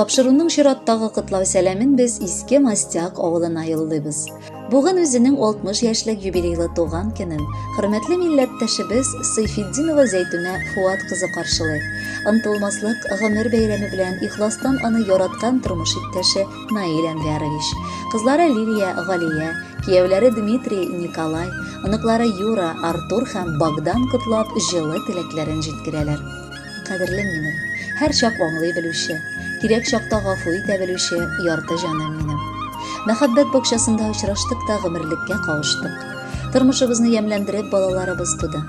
Тапшыруның чираттагы котлау сәламен без Иске Мастяк авылына юллыйбыз. Бүген үзенең 60 яшьлек юбилейлы туган көнен хөрмәтле милләттәшебез Сыйфетдинова Зәйтүнә Фуат кызы каршылый. Ынтылмаслык гомер бәйрәме белән ихластан аны яраткан тормыш иптәше Наил Әнвәрович, кызлары Лилия, Галия, кияүләре Дмитрий, Николай, оныклары Юра, Артур һәм Богдан котлап җылы теләкләрен җиткерәләр. Кадерлем минем, һәр чак аңлый белүче, кирәк чакта гафу итә белүче ярты җаным минем. Мәхәббәт бакчасында очраштык та гомерлеккә кавыштык. Тормышыбызны ямьләндереп балаларыбыз туды.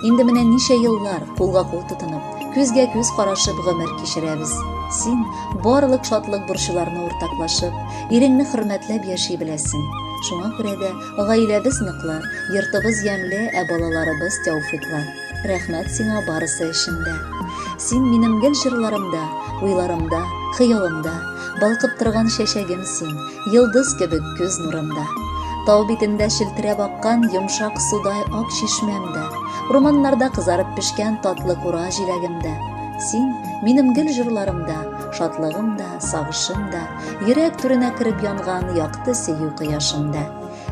Инде менә ничә еллар кулга-кул тотынып, күзгә күз карашып гомер кичерәбез. Син барлык шатлык борчуларны уртаклашып, иреңне хөрмәтләп яши беләсең. Шуңа күрә дә гаиләбез ныклы, йортыбыз ямьле, ә балаларыбыз тәүфиклы. Рәхмәт сиңа барысы өчен дә. Син минем гел җырларымда, уйларымда, хыялымда, балкып торган чәчәгем син, йолдыз кебек күз нурымда. Тау битендә челтерәп аккан йомшак судай ак чишмәмдә, урманнарда кызарып пешкән татлы кура җиләгемдә. Син минем гел җырларымда, шатлыгым да, сагышым да, йөрәк түренә кереп янган якты сөю кояшымда.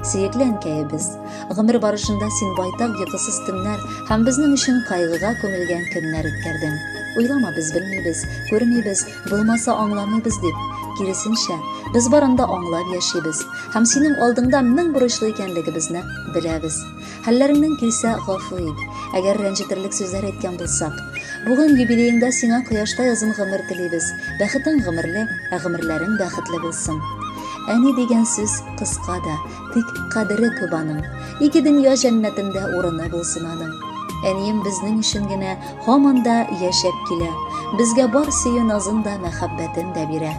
Сөекле әнкәебез, гомер барышында син байтак йокысыз төннәр һәм безнең өчен кайгыга күмелгән көннәр үткәрдең. Уйлама, без белмибез, күрмибез, булмаса аңламыйбыз дип. Киресенчә, без барында аңлап яшибез һәм синең алдыңда мең бурычлы икәнлегебезне беләбез. Хәлләреңнән килсә, гафу ит. Әгәр рәнҗетерлек сүзләр әйткән булсак. Бүген юбилееңда сиңа кояштай озын гомер телибез. Бәхетең гомерле, ә гомерләрең бәхетле булсын. Әни дигән сүз кыска да, тик кадере күп аның. Ике дөнья җәннәтендә урыны булсын аның. Әнием безнең өчен генә һаман да яшәп килә. Безгә бар сөю назын да, мәхәббәтен дә бирә.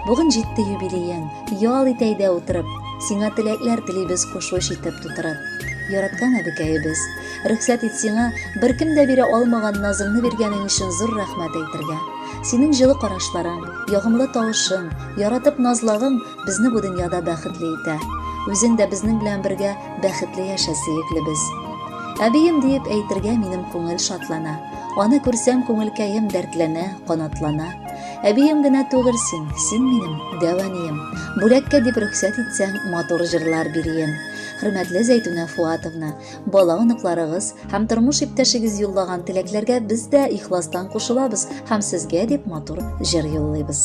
Бүген җитте юбилеең. Ял ит әйдә утырып. Сиңа теләкләр телибез кушуч итеп тутырып. Яраткан әбекәебез, рөхсәт ит сиңа беркем дә бирә алмаган назыңны биргәнең өчен зур рәхмәт әйтергә. Синең җылы карашларың, ягымлы тавышың, яратып назлагың безне бу дөньяда бәхетле итә. Үзең дә безнең белән бергә бәхетле яшә, сөеклебез. Әбием диеп әйтергә минем күңел шатлана. Аны күрсәм, күңелкәем дәртләнә, канатлана. Әбием генә түгел син, син минем дәванием. Бүләккә дип рөхсәт итсәң, матур җырлар бирием. Хөрмәтле Зәйтүнә Фуатовна, бала оныкларыгыз һәм тормыш иптәшегез юллаган теләкләргә без дә ихластан кушылабыз һәм сезгә дип матур җыр юллыйбыз.